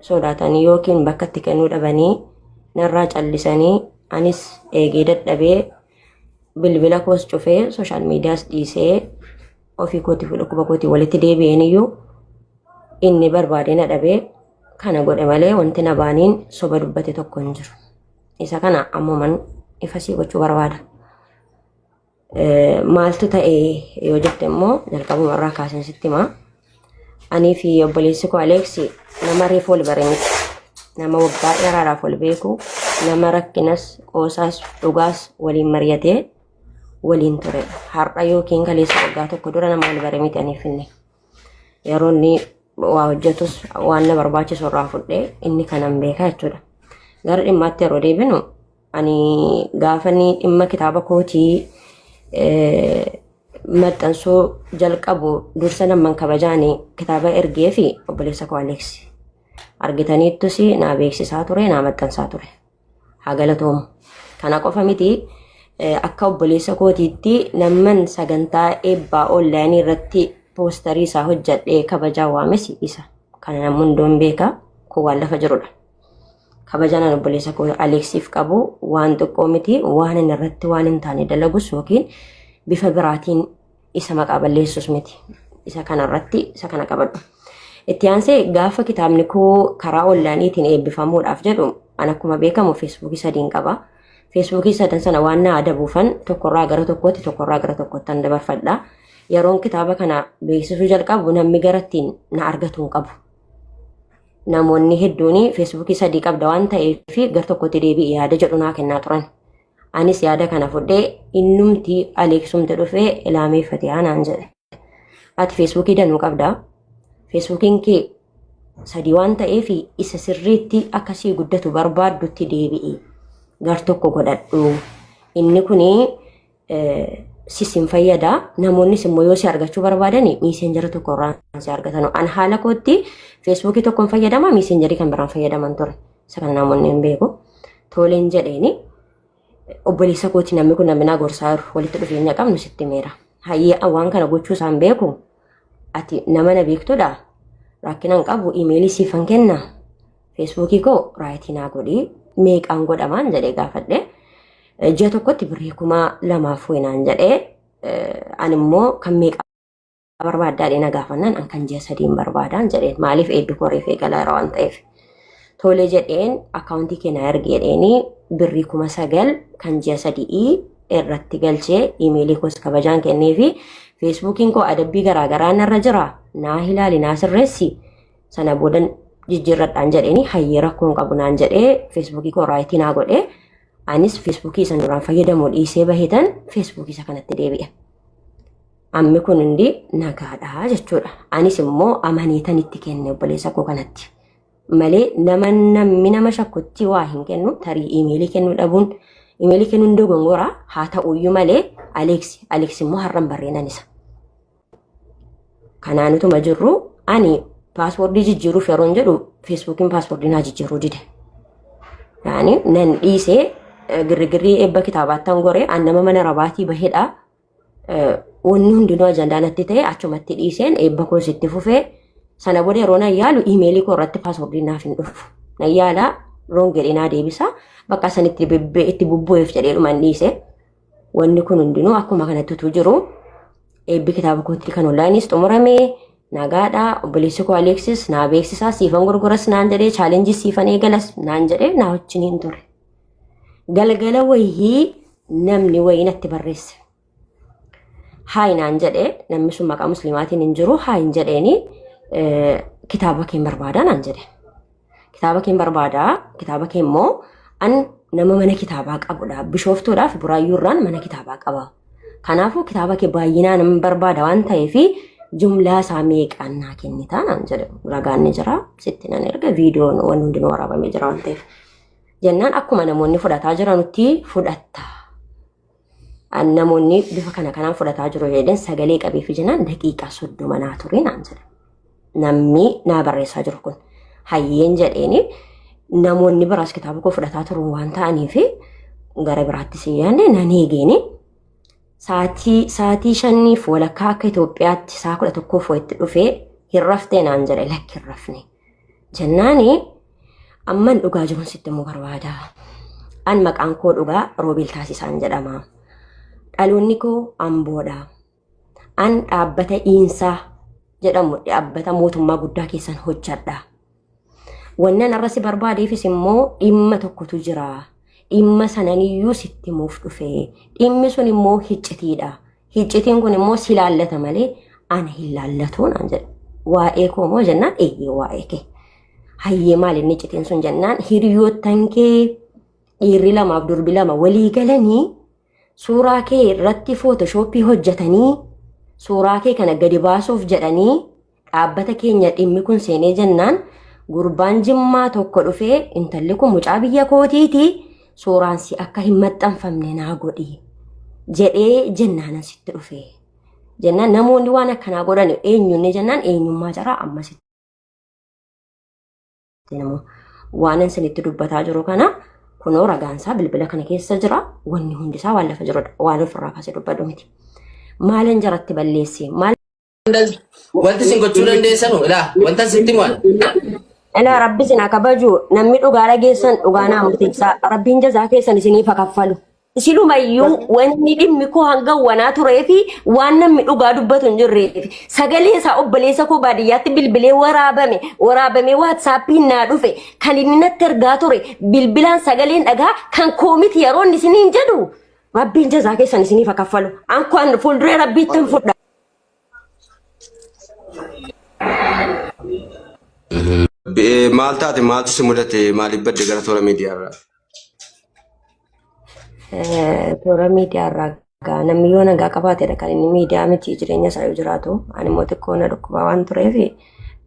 sodaatanii yookiin bakka itti kennuu dhabanii narraa callisanii anis eegee dadhabee bilbila koos cufee sooshaal miidiyaas dhiisee ofii kootiif dhukkuba kootii walitti deebi'een iyyuu inni barbaadee na dhabee kana godhe malee wanti na baaniin soba dubbate tokko hin jiru. Isa kana ammuman ifasii gochuu barbaada. Maaltu ta'e yoo jette immoo jalqabuma irraa kaaseen sitti himaa. Anii fi obboleessi koo Aleeksi nama reefu wal bare miti. Nama waggaa dheeraadhaaf wal beeku, nama rakkinas, qoosaas, dhugaas waliin mari'atee waliin ture. Har'a yookiin kaleessa waggaa tokko dura nama wal bare miti anii fi inni. Yeroo inni waa hojjetus waan na barbaachisu irraa fudhee inni kanan beekaa jechuudha. Gara dhimmaatti yeroo deebinu Ani gaafani dhimma kitaaba kootii eh, maxxansuu jalqabu dursa namman kabajaani kitaaba ergee fi obboleessa koo Aleeksi. Argitaniittus naa beeksisaa ture, naa maxxansaa ture. Haa galatoomu. Kana qofa miti eh, akka obboleessa kootiitti namman sagantaa eebbaa onlaayinii irratti poostarii isaa hojjadhee kabajaa waames isa. Kana namni hunduun beeka. Kun waan lafa jirudha. kabajaan ani obboleessa koo Aleeksiif qabu waan xiqqoo miti waan inni irratti waan hin taane dalagus yookiin bifa biraatiin isa maqaa balleessus miti isa kana irratti isa kana qabadhu. Itti aansee gaafa kitaabni koo karaa onlaayiniitiin eebbifamuudhaaf jedhu an akkuma beekamu feesbuukii sadiin qaba. Feesbuukii sadan sana waan na adabuufan tokkorraa gara tokkootti tokkorraa gara tokkootti an dabarfadha. Yeroon kitaaba kana beeksisuu jalqabu namni garattiin na argatu hin qabu. namoonni hedduun feesbuukii sadii qabda waan ta'eef gar tokkotti deebi'e yaada jedhu naa kennaa turan. Anis yaada kana fudhee innumti aleeksumti dhufee ilaamee fatiyaa naan jedhe. Ati feesbuukii danuu qabda. Feesbuukiin kee sadii waan ta'eef isa sirriitti akkasii guddatu barbaaddutti deebi'i. Gar tokko godhadhu. Inni kun sis hin fayyada. Namoonnis immoo yoo si argachuu barbaadan miiseenjara tokko irraa si argatanu. An haala kootti feesbuukii tokko hin fayyadama miiseenjarii kan biraan fayyadaman ture. Isa kan namoonni hin beeku. Tooleen jedheeni obboleessa kooti namni kun namni naa gorsaa jiru walitti dhufeenya qabnu sitti meera. Hayyee waan kana gochuu isaan beeku ati nama na beektudha. Rakkinaan qabu imeelii siifan kenna. Feesbuukii koo raayitii naa godhi meeqaan godhamaan jedhee gaafadhe. Ji'a tokkotti birrii kuma lamaaf weenaan jedhee ani immoo kan meeqa barbaaddaadhee na gaafannaan an kan ji'a sadiin barbaadaan jedheen maaliif eedduu koo reefee galaara waan ta'eef. Tole jedheen akkaawuntii kee naa ergi jedheeni birrii kuma sagal kan ji'a sadii irratti galchee imeelii koos kabajaan kennee fi feesbuukiin koo adabbii garaagaraa narra jira naa hilaali naa sirreessi sana boodan jijjiirradhaan jedheeni hayyee rakkoo hin qabu naan jedhee feesbuukii koo raayitii naa godhe anis feesbuukii isan duraan fayyadamu dhiisee bahetan feesbuukii isa kanatti deebi'e. Ammi kun hundi nagaadha jechuudha. Anis immoo amaniitan itti kenne obboleessa koo kanatti. Malee nama namni nama shakkutti waa hin kennu tarii imeelii kennuu dhabuun imeelii kennuun dogongora haa ta'uyyuu malee Aleeksi Aleeksi immoo har'an barreenan isa. Kanaan utuma jirru ani paaswoordii jijjiiruuf yeroon jedhu feesbuukiin paaswoordii naa jijjiiruu dide. Yaani nan dhiisee eh, girrigirrii eebba kitaabaattan goree an nama mana rabaatii bahedha. Eh, Wanni hundinuu ajandaa natti ta'e achumatti dhiiseen eebba koos itti fufee sana booda yeroo nan yaalu iimeelii koo irratti paaswoordiin naaf hin dhufu. Nan yaala roon jedhee naa deebisa bakka san itti bebbe- itti bubbu'eef jedhee dhuman dhiise. Wanni kun hundinuu akkuma kanatti utuu jiru eebbi kitaaba kootii kan onlaayiniis xumurame nagaadha obboleessi koo Aleeksis naa beeksisaa siifan gurguras naan jedhee chaalenjii siifan eegalas naan jedhee naa wajjin hin ture. Galgala wayii namni wayii natti barreesse. Haayi naan jedhee namni sun maqaa musliimaatiin hin jiru haayi hin jedheeni kitaaba kee hin barbaadaa naan jedhe. Kitaaba keen barbaada. Kitaaba kee immoo an nama mana kitaabaa qabudha. Bishooftuudhaaf buraayyuu irraan mana kitaabaa qaba. Kanaafuu kitaaba kee baay'inaan hin barbaada waan ta'eef jumlaa isaa meeqaan naa kennitaa naan jedhe ragaan ni jira. Sitti nan erga viidiyoon waan hundinuu waraabamee jira waan ta'eef. Jennaan akkuma namoonni fudhataa jiranutti fudhatta. An namoonni bifa kana kanaan fudhataa jiru jedheen sagalee qabee fi jenaan daqiiqaa soddoma naa ture naan jedha. Namni naa barreessaa jiru kun hayyeen jedheeni namoonni biraas kitaaba koo fudhataa turan waan ta'aniif gara biraatti si yaadne nan eegeeni. Saatii saatii shaniif walakkaa akka Itoophiyaatti saa kudha tokkoof wayitti dhufee hin raftee naan jedhe lakki hin rafne. Jennaani amman dhugaa jiruun sitti immoo barbaada. An maqaan koo dhugaa Roobil Taasisaan jedhama. Dhaloonni koo Amboodha. An dhaabbata Iinsaa jedhamu dhaabbata mootummaa guddaa keessan hojjedha. Wannan arrasi barbaadeefis immoo dhimma tokkotu jira. Dhimma sananiyyuu sitti himuuf dhufe. Dhimmi sun immoo hiccitiidha. Hiccitiin kun immoo si laallata malee ana hin laallatu naan jedhe. Waa'ee koo moo jennaan eeyyee waa'ee kee. Hayyee maal inni hiccitiin sun jennaan hiriyoottan kee dhiirri lamaaf durbi lama walii galanii suuraa kee irratti footoshoppii hojjetanii suuraa kee kana gadi baasuuf jedhanii Dhaabbata keenya dhimmi kun seenee jennaan gurbaan jimmaa tokko dhufee intalli kun mucaa biyya kootiiti suuraan si akka hin maxxanfamne naa godhi jedhee jennaan asitti dhufe. Jennaan namoonni waan akkanaa godhan eenyuun jennaan eenyummaa jaraa ammas waan isinitti dubbataa jiru kana kunoo ragaansaa bilbila kana keessa jira wanni hundisaa waan lafa jirudha waan ofirraa kaasee dubbadhu miti. Maalin jaratti balleessi maal Wanti isin gochuu dandeessanu ilaa wanta sitti waan. Ilaa rabbi isin haa kabaju namni dhugaa dhageessan dhugaa naa murteessaa rabbiin jazaa keessan isiniif haa kaffalu. Isilumayyuu wanni dhimmi koo hanga wanaa turee fi waan namni dhugaa dubbatu hin jirree fi sagalee isaa obboleessa koo baadiyyaatti bilbilee waraabame waraabamee waatsaappiin naa dhufe kan inni natti ergaa ture bilbilaan sagaleen dhagaa kan koomiti yeroo inni isiniin jedhu rabbiin jazaa keessan isiniif haa kaffalu. An kun fuulduree rabbiitti hin fudha. Be- Maal taate maaltu si mudate maaliif badde gara toora miidiyaarraa? Eh, toora miidiyaa irraa gaa namni yoo nagaa qabaatedha kan inni miidiyaa miti jireenya isaa yoo jiraatu ani immoo xiqqoo na dhukkubaa waan tureef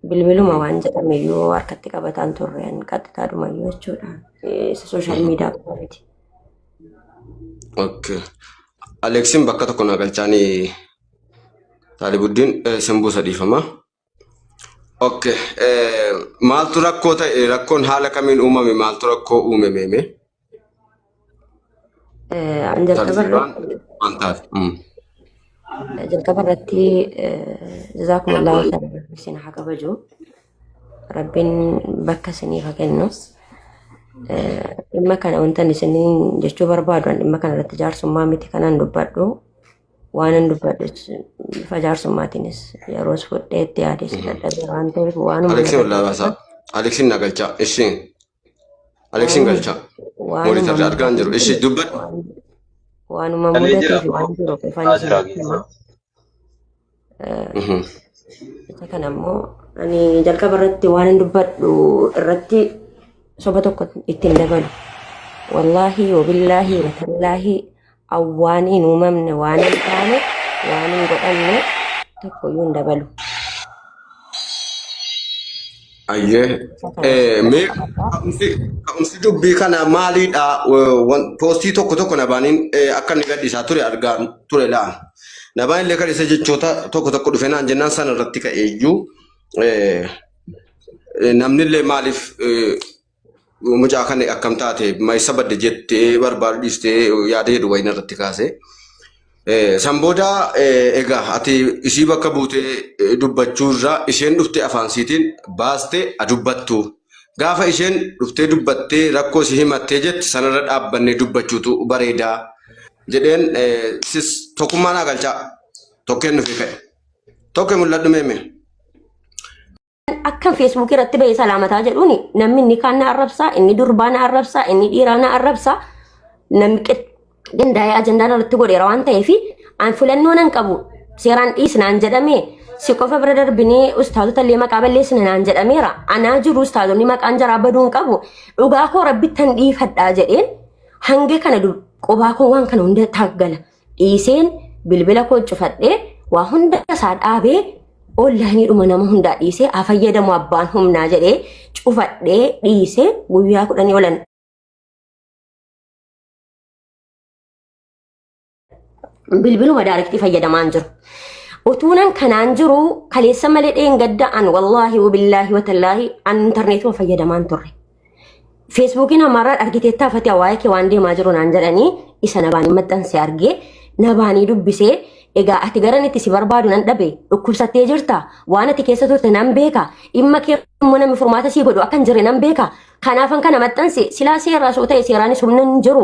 bilbiluma waan jedhame yoo harkatti qabataan turre an qaxxitaadhuma iyyuu jechuudha Eh, isa sooshaal miidiyaa qofa miti Okay. Aleeksiin bakka tokko naa galchaanii Taalibuddiin eh, sin buusa dhiifama. Okay. eh, Maaltu rakkoo ta'e rakkoon haala kamiin uumame maaltu rakkoo uume meeme Eh, An jalqaba tartiibaan irratti waan taate. Mm. jalqaba irratti eh, jazaakumullahu khairan isin haa kabaju. Rabbiin bakka isiniif haa kennus. Eh, Dhimma kana wantan isiniin jechuu barbaadu an dhimma kana irratti jaarsummaa miti kanan dubbadhu waanan dubbadhu jechuun bifa jaarsummaatiinis yeroos fudhee itti yaadee si dadhabee waan ta'eef waanuma Aleeksii na ollaa baasaa. Aleeksiin na galchaa. Isheen. Aleksiin Waanuma galchaa. waanuma Moonitarri argaa hin jiru. mudateef Ishi dubbadhu. waan- waanuma Dhalee jira mudateef waan jiru qofan haa isin jira hima. geessa. Mhm. Isa kana immoo ani jalqaba irratti waan hin dubbadhu irratti soba tokko ittiin dabalu. Wallaahi, wabillaahi, watallaahi waan hin uumamne waan hin taane waan hin godhamne tokkoyyuu hin dabalu Ayyee. uffata Eh, wajjin mee walqabataa ka'umsi ka'umsi dubbii kana maaliidha? Eh, wan- Poostii tokko tokko nabaaniin eh, akka inni gadhiisaa ture argaa ture la'a. Nabaan illee gadhiisa jechoota tokko tokko dhufe naan jennaan sana irratti ka'eeyyuu eh, eh, namni illee maaliif eh, mucaa kan akkam taate maysa badde jettee barbaadu dhiistee yaada jedhu wayina irratti kaase. San booda egaa ati isii bakka buutee dubbachuu irraa isheen dhuftee afaan siitiin baastee a dubbattu. Gaafa isheen dhuftee dubbattee rakkoo isii himattee jetti sanarra dhaabbannee dubbachuutu bareedaa jedheen sis tokkummaa naa galchaa tokkeen nufi ka'e. Tokko mul'adhu meemee. Akka feesbuukii irratti bahee salaamataa jedhuun namni inni kaan na arrabsaa, inni durbaa na arrabsaa, inni dhiiraa na arrabsaa, namni qindaa'ee ajandaan irratti godheera waan ta'eef an filannoo nan qabu seeraan dhiisnaan jedhamee si qofa bira darbinee ustaazota illee maqaa balleessina naan jedhameera. Anaa jiru ustaazonni maqaan jaraa baduu hin qabu. Dhugaa koo rabbittan dhiifadhaa jedheen hanga kana qubaa koo waan kana hunda taaggala. dhiiseen bilbila koo cufadhee waa hunda isaa dhaabee onlaayiniidhuma nama hundaa dhiisee haa fayyadamu abbaan humnaa jedhee cufadhee dhiisee guyyaa kudhanii olan bilbiluma daarektii fayyadamaan jiru. Utuunan kanaan jiru kaleessa malee dheengadda'an wallaahi wabillaahi watallaahi an intarneetuma fayyadamaan turre. Feesbuukiin ammaarraa argiteettaa fatiyaa waa'ee kee waan deemaa jiru naan jedhanii isa nabaanii maxxanse argee nabaanii dubbisee egaa ati garan itti si barbaadu nan dhabe dhukkubsattee jirta waan ati keessa turte nan beeka dhimma kee immoo namni furmaata sii godhu akka hin jirre nan beeka kanaafan kana maxxanse silaa seerraa soo ta'e seeraanis humna hin jiru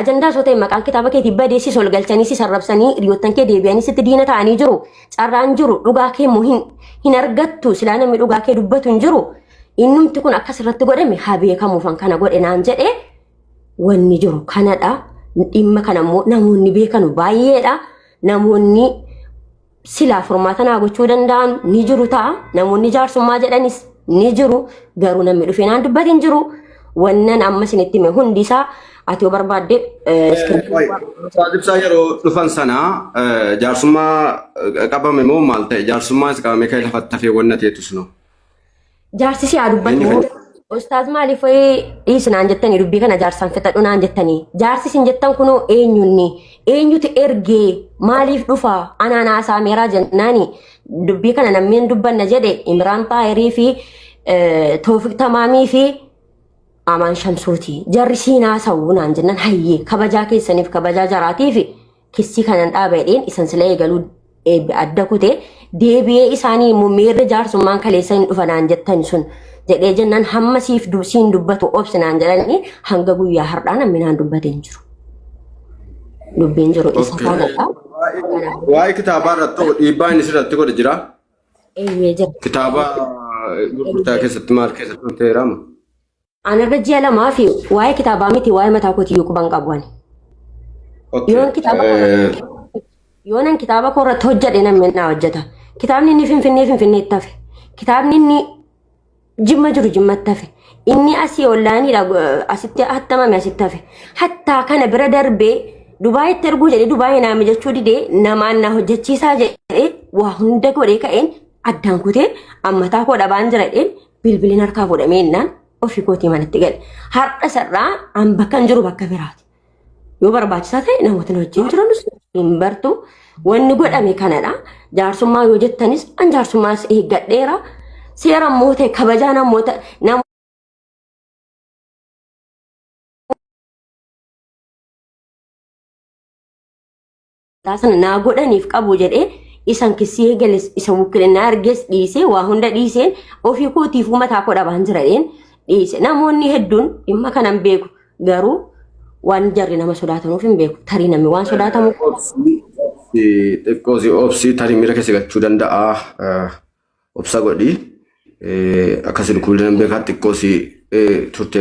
Ajandaa osoo ta'e maqaan kitaaba keetii badee si solgalchanii si sarrabsanii hiriyoottan kee deebi'anii sitti diina ta'anii jiru. Carraan jiru dhugaa kee immoo hin, hin argattu silaa namni dhugaa kee dubbatu hin jiru. Innumti kun akkas irratti godhame haa beekamuufan kana godhe naan jedhee wanni jiru kanadha. Dhimma kana immoo namoonni beekanu baay'eedha. Namoonni silaa furmaata naa gochuu danda'an ni jiru ta'a. Namoonni jaarsummaa jedhanis ni jiru. Garuu namni dhufee naan dubbate hin jiru. Wannan amma isinitti hime hundi isaa ati yoo barbaadde eh, iskiriiptii Qoy, waan- Ustaaz Ibsaa yeroo dhufan sana eh, jaarsummaa eh, qabame moo maal ta'e? Jaarsummaa is qabame ka'e lafatti hafee wanna ta'etu sunu. Jaarsi si haa Eenyu dubbatu. fedha? Ustaaz maaliif wayii dhiisi naan jettanii dubbii kana jaarsaan fixadhu naan jettanii. Jaarsi isin jettan kunoo eenyunni? Eenyutu ergee maaliif dhufa? Anaan haasaa meeraa jennaani dubbii kana namni hin dubbanna jedhe Imraan Xaayirii fi eh, Toofiq Tamaamii fi Amaan Shamsuuti. Jarri siin haasa'u naan jennan hayyee kabajaa keessaniif kabajaa jaraatiifi Kissii kanan dhaaba jedheen isan sila eegaluu adda kute deebi'ee isaanii immoo meerre jaarsummaan kaleessa hin dhufanaan jettan sun jedhee jennaan hamma siif siin dubbatu obsinaan jedhanii hanga guyyaa har'aa namni naan dubbate hin jiru. Dubbiin jiru isa kanadha. Waa'ee kitaabaa irratti ta'u dhiibbaa inni sirratti godhe jira. Eeyyee jira. Kitaaba gurgurtaa keessatti maal keessatti ta'eeraama? Anarra ji'a lamaa fi waa'ee kitaabaa miti waa'ee mataa kootiyyuu quban qabu ani. Okay. Yoon kitaaba eh, Yoonan kitaaba koo irratti hojjedhe namni naa hojjeta. Kitaabni inni finfinnee finfinneetti hafe. Kitaabni inni jimma jiru jimmatti hafe. Inni asii ollaaniidha eh, asitti hattamame asitti hafe. Hattaa kana bira darbee Dubaayitti erguu jedhee Dubaayii naa mijachuu didee namaan naa hojjechiisaa jedhee waa hunda godhee ka'een addaan kutee ammataa koo dhabaan jira jedheen bilbilin harkaa godhamee innaan ofii kootii manatti gale. Har'a sarraa an bakka hin jiru bakka biraati. Yoo barbaachisaa ta'e namootni wajjin jiranus hin bartu. Wanni godhame kanadha. Jaarsummaa yoo jettanis an jaarsummaas eeggadheera. Seera immoo ta'e kabajaa namoota nama Taa sana naa godhaniif qabu jedhee isan kissii eegales isa wukkilinaa argees dhiisee waa hunda dhiiseen ofii kootiif uumataa koo dhabaan jiradheen dhiise. Namoonni hedduun dhimma kanan beeku garuu waan jarri nama sodaatanuuf hin beeku. Tarii namni waan sodaatamu Xiqqoo si obsi tarii miira keessa galchuu danda'a. Obsa godhi. Akkasii dhukkubni nan beekaa xiqqoo si turte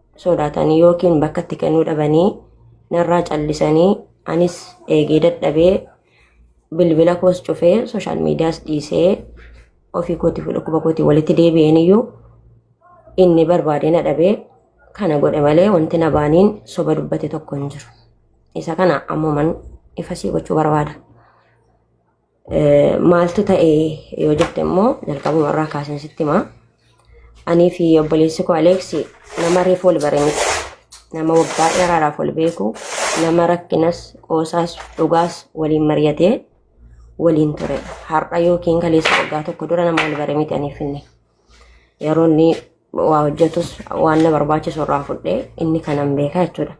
sodaatanii yookiin bakka itti kennuu dhabanii narraa callisanii anis eegee dadhabee bilbila koos cufee sooshaal miidiyaas dhiisee ofii kooti fi dhukkuba kooti walitti deebi'een iyyuu inni barbaadee na dhabee kana godhe malee wanti na baaniin soba dubbate tokko hin jiru. Isa kana ammuman ifasii gochuu barbaada. Maaltu ta'e yoo jette immoo jalqabuma irraa kaaseen sitti himaa. Anii fi obboleessi koo Aleeksi nama reefu wal bare miti. Nama waggaa dheeraadhaaf wal beeku, nama rakkinas, qoosaas, dhugaas waliin mari'atee waliin ture. Har'a yookiin kaleessa waggaa tokko dura nama wal bare miti anii fi inni. Yeroo inni waa hojjetus waan na barbaachisu irraa fudhee inni kanan beekaa jechuudha.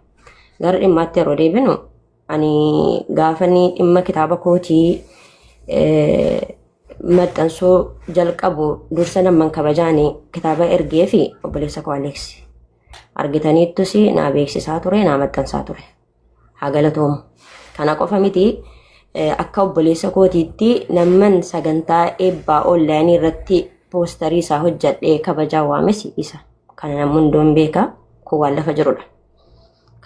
Gara dhimmaatti yeroo deebinu Ani gaafani dhimma kitaaba kootii eh, maxxansuu jalqabu dursa namman kabajaani kitaaba ergee fi obboleessa koo Aleeksi. Argitaniittus naa beeksisaa ture, naa maxxansaa ture. Haa galatoomu. Kana qofa miti eh, akka obboleessa kootiitti namman sagantaa eebbaa onlaayinii irratti poostarii isaa hojjadhee kabajaa waames isa. Kana namni hundoon beeka. Kun waan lafa jirudha.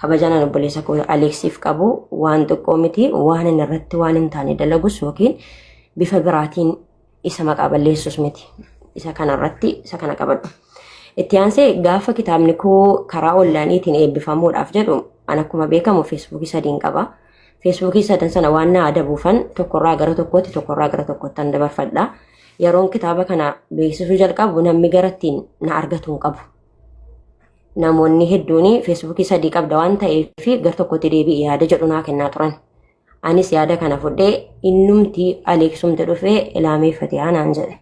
kabajaan an obboleessa koo Aleeksiif qabu waan xiqqoo miti waan inni irratti waan hin taane dalagus yookiin bifa biraatiin isa maqaa balleessus miti isa kana irratti isa kana qabadhu. Itti aansee gaafa kitaabni koo karaa onlaayiniitiin eebbifamuudhaaf jedhu an akkuma beekamu feesbuukii sadiin qaba. Feesbuukii sadan sana waan na adabuufan tokkorraa gara tokkootti tokkorraa gara tokkootti an dabarfadha. Yeroon kitaaba kana beeksisuu jalqabu namni garattiin na argatu hin qabu. namoonni hedduun feesbuukii sadii qabda waan ta'eef gar tokkotti deebi'i yaada jedhu naa kennaa turan. Anis yaada kana fudhee innumti aleeksumti dhufee ilaamee fatiyaa naan jedhe.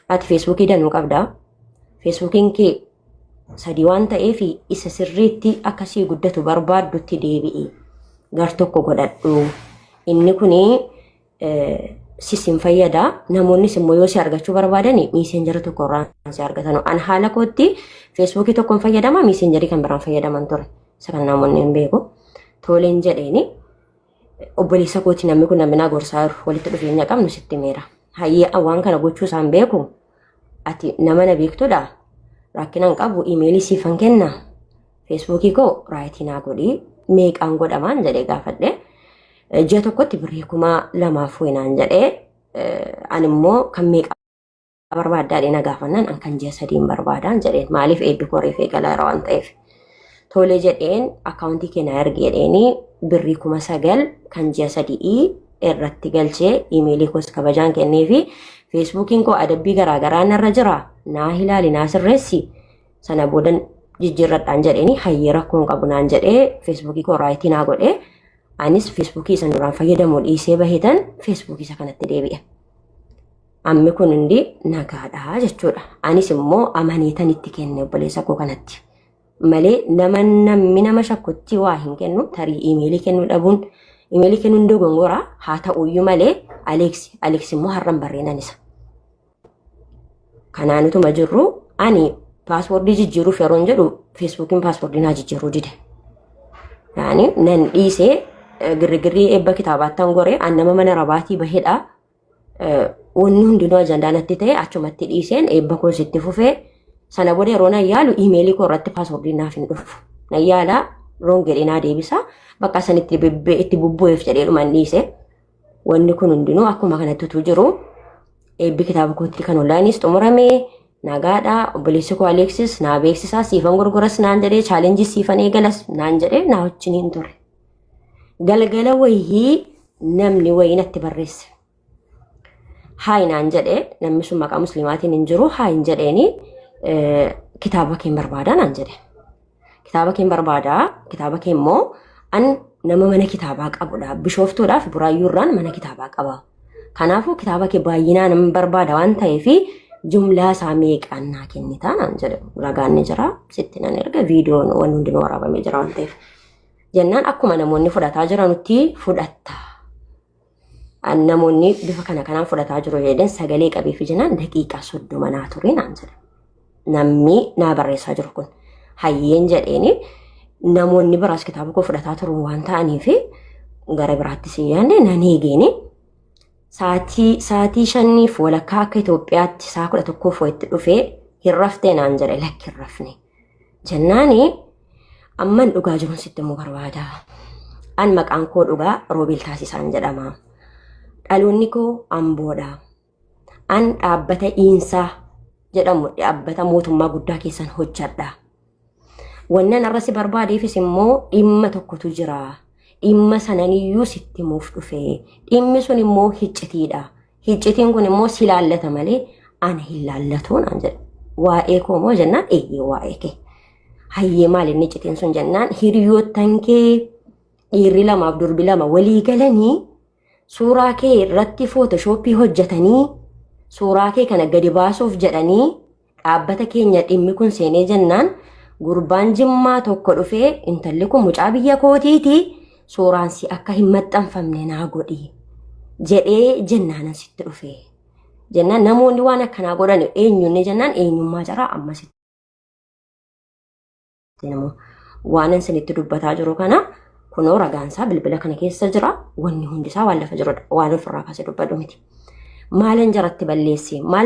Ati feesbuukii danuu qabda. Feesbuukiin kee sadii waan ta'eef isa sirriitti akkasii guddatu barbaaddutti deebi'i. Gar tokko godhadhu. Inni kun sis hin fayyada. Namoonnis immoo yoo si argachuu barbaadan miisenjara tokko irraa si argatan. An haala kootti feesbuukii tokkoon fayyadama miisenjarii kan biraan fayyadaman ture. Isa kan namoonni hin beeku. Tooleen jedheeni obboleessa kooti namni kun namni naa gorsaa jiru walitti dhufeenya qabnu sitti meera. Hayyee waan kana gochuu isaan beeku Ati nama na beektudha. Rakkinaan qabu imeelii siifan kenna. Feesbuukii koo raayitii naa godhii meeqaan godhamaan jedhee gaafadhe. Ji'a tokkotti birrii kuma lamaaf wayinaan jedhee ani immoo kan meeqa barbaaddaadhe na gaafannaan an kan ji'a sadiin barbaadaan jedheen maaliif eebbi koo reefee galaara waan ta'eef. Tole jedheen akkaawuntii kee na ergi jedheeni birrii kuma sagal kan ji'a sadii irratti galchee imeelii koos kabajaan kennee fi feesbuukiin koo adabbii garaagaraa narra jira naa hilaali naa sirreessi sana booda jijjiirradhaan jedheeni hayyee rakkoon qabu naan jedhee feesbuukii koo raayitii naa godhee anis feesbuukii isan duraan fayyadamu dhiisee bahetan feesbuukii isa kanatti deebi'e. Ammi kun hundi nagaadha jechuudha. Anis immoo amaniitan itti kenne obboleessa koo kanatti. Malee nama namni nama shakkutti waa hin kennu tarii imeelii kennuu dhabuun imeelii kennuun dogongora haa ta'uyyuu malee Aleeksi Aleeksi immoo har'an barreenan isa. Kanaan utuma jirru ani paaswoordii jijjiiruuf yeroon jedhu feesbuukiin paaswoordii naa jijjiiruu dide. Yaani nan dhiisee girgirrii eebba kitaabaattan goree an nama mana rabaatii bahedha. Eh, wanni hundinuu ajandaa natti ta'e achumatti dhiiseen eebba koos itti fufee sana booda yeroo nan yaalu iimeelii koo irratti paaswoordiin naaf hin dhufu nan yaala roon jedhee naa deebisa bakka san itti bibbee itti bubbu'eef jedhee dhuman dhiise wanni kun hundinuu akkuma kanatti utuu jiru eebbi kitaaba kootti kan onlaayiniis xumurame nagaadha obboleessi koo aleeksis naa beeksisaa siifan gurguras naan jedhee chaalenjii siifan eegalas naan jedhee naa wajjin hin ture. galgala wayii namni wayii natti barreesse haayi naan jedhe namni sun maqaa musliimaatiin hin jiru haayin jedheeni eh, kitaaba keen barbaadaa naan jedhe kitaaba keen barbaadaa kitaaba kee immoo an nama mana kitaabaa qabudha bishooftuudhaaf buraayyuurraan mana kitaabaa qaba kanaafuu kitaaba kee baay'inaan hin barbaada waan ta'eef jumlaa isaa meeqaan naa kennitaa naan jedhe ragaan ni jira sitti nan erga viidiyoon waan hundinuu waraabamee jira waan ta'eef Jennaan akkuma namoonni fudhataa jiranutti fudhatta. An namoonni bifa kana kanaan fudhataa jiru jedheen sagalee qabee fi jennaan daqiiqaa soddoma naa turee naan jedhe. Namni naa barreessaa jiru kun hayyeen jedheeni namoonni biraas kitaaba koo fudhataa turan waan ta'aniif gara biraatti si yaadne nan eegeeni. Saatii saatii shaniif walakkaa akka Itoophiyaatti saa kudha tokkoof wayitti dhufee hin raftee naan jedhe lakki hin rafne. Jennaani amman dhugaa jirun sitti immoo barbaada. An maqaan koo dhugaa Roobeel Taasisaan jedhama. Dhaloonni koo Amboodha. An dhaabbata Iinsaa jedhamu dhaabbata mootummaa guddaa keessan hojjedha. Wannan arrasi barbaadeefis immoo dhimma tokkotu jira. Dhimma sananiyyuu sitti himuuf dhufe. Dhimmi sun immoo hiccitiidha. Hiccitiin kun immoo si laallata malee ana hin laallatu naan jedhe. Waa'ee koo moo jennaan eeyyee waa'ee kee. Hayyee maal inni hiccitiin sun jennaan hiriyoottan kee dhiirri lamaaf durbi lama walii galanii suuraa kee irratti footoshoopii hojjetanii suuraa kee kana gadi baasuuf jedhanii Dhaabbata keenya dhimmi kun seenee jennaan gurbaan jimmaa tokko dhufee intalli kun mucaa biyya kootiiti suuraan si akka hin maxxanfamne naa godhi jedhee jennaanan sitti dhufee. Jennaan namoonni waan akkanaa godhan eenyuunni jennaan eenyummaa jaraa amma sitti. Waanan sinitti dubbataa jiru kana kunoo ragaansaa bilbila kana keessa jira wanni hundisaa waan lafa jirudha waan ofirraa kaasee dubbadhu miti. Maalan jaratti balleessi maal